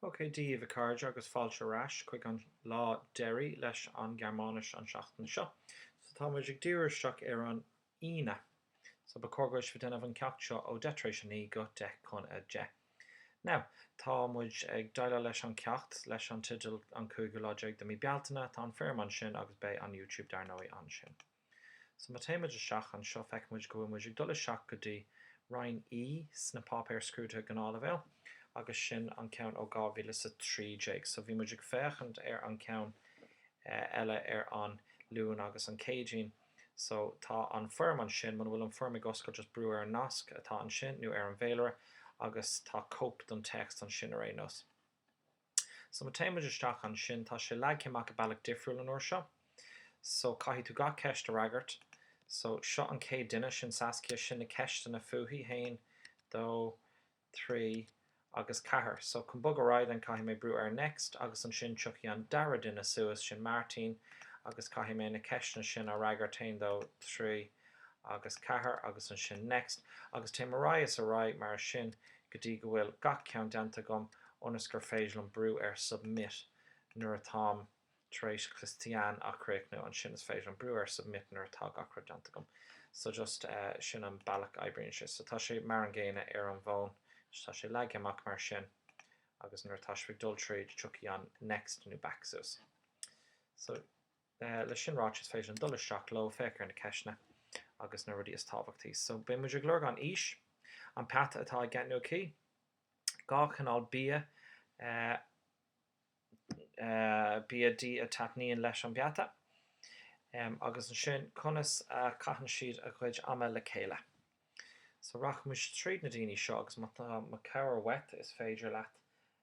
OK, Dia daoibh, a chairde, agus fáilte ar ais chuig an lá deiridh leis an nGearmáinis an seachtain seo. So, tá muid ag díriú isteach ar an Aoine. So, ba chóir go bhfuil sibh ag déanamh an ceacht seo ó deich tar éis a naoi go deich chun a deich. Now, tá muid ag déileáil leis an ceacht leis an teideal An Cúigiú Lá Déag de Mí Bealtaine, tá an foirm ansin agus beidh an YouTube dar ndóigh ansin. So ma téann muid isteach anseo feicfidh muid go bhfuil muid ag dul isteach go dtí Roinn E sna páipéir scrúdaithe gnáthleibhéil agus sin an ceann ó 2013. So bhí muid ag féachaint ar an ceann eile ar an Luan agus an Céadaoin. So tá an foirm ansin, muna bhfuil an foirm ag oscailt just brú ar an nasc atá ansin nó ar an bhféilire agus tá cóip don téacs ansin ar aon nós. So ma téann muid isteach ansin, tá sé leagtha amach i bealach difriúil an uair seo. So caithfidh tú gach ceist a fhreagairt. So seo an chéad duine, sin Saskia, sin na ceisteanna fúithi, haon, dó, trí agus ceathair. So chun bogadh ar aghaidh then caithfidh mé brú ar next agus ansin tiocfaidh an dara duine suas, sin Martin agus caithfidh mé na ceisteanna sin a fhreagairt, haon, dó, trí agus ceathair agus ansin next agus téim ar aghaidh is ar aghaidh mar sin go dtí go bhfuil gach ceann déanta agam ionas gur féidir liom brú ar submit nuair atáim tar éis Christian a chríochnú ansin is féidir liom brú ar submit nuair atá gach rud déanta agam so just sin an bealach a oibríonn sé so tá sé mar an gcéanna ar an bhfón so tá sé leagtha amach mar sin agus nuair atá sibh ag dul tríd tiocfaidh an next nó back suas so Leis sin ráite, is féidir linn dul isteach leo, féach ar na ceisteanna agus na rudaí is tábhachtaí. So, beidh muid ag lorg an aois, an peata atá i gceist nó acu, dhá chineál bia, bia dí a taitníonn leis an bpeata, agus ansin conas a chaitheann siad a gcuid ama le chéile. So, rachaidh muid tríd na daoine seo agus má tá mo cabhair uait, is féidir leat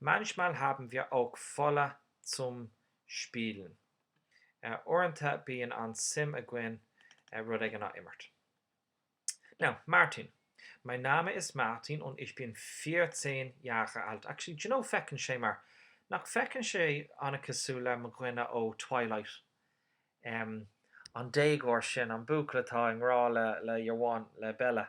Manchmal haben wir auch Fälle zum Spielen, Uaireanta bíonn an-suim againn rud éigin a imirt. Now, Martin. Mein Name ist Martin und ich bin vierzehn Jahre alt. Actually, do you know, feiceann sé mar, nach bhfeiceann sé an-cosúil le mo dhuine ó Twilight? Em, an déagóir sin, an buachaill atá i ngrá le, le, your one, le Bella.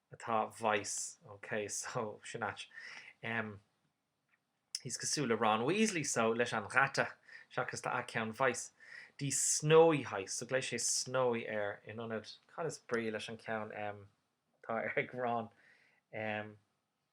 atá weiß ok so sin ait em is cosúil le Ron Weasley so leis an Ratte seachas tá a ceann weiß die snowy heißt so glaodh sé snowy air in ionad cad is brí leis an ceann em atá ar ag Ron em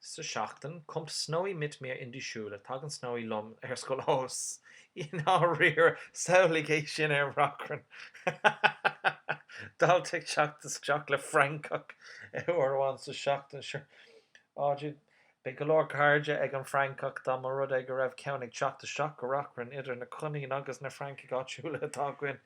Sa tseachtain, kommt Snowy mit mir in die Schule, tagann Snowy liom ar scoil ó, i ndáiríre, samhlaigh é sin ar Reachrainn! dalta ag teacht isteach le francach uair amháin sa tseachtain, sure. Á, Jude, beidh go leor cairde ag an fhrancach dá mba rud é go raibh ceann ag teacht isteach go Reachrainn idir na coiníní agus na francaigh áitiúla atá againn!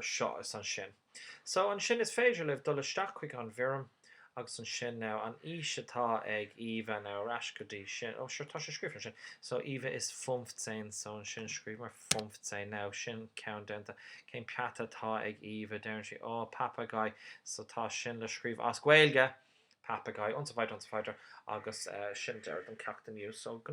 seo is ansin. So, ansin is féidir libh dul isteach chuig an bhfoirm agus ansin now an aois atá ag Eva now ar ais go dtí sin. Oh, sure, tá sé scríofa ansin. So, Eva ist fünfzehn, so ansin scríobhamar fünfzehn. Now, sin ceann déanta. Cén peata atá ag Eva? Deireann sí, Oh, Papagei. So, tá sin le scríobh as Gaeilge! Papagei und so weiter und so weiter. Agus sin deireadh den cheacht inniu. So, go.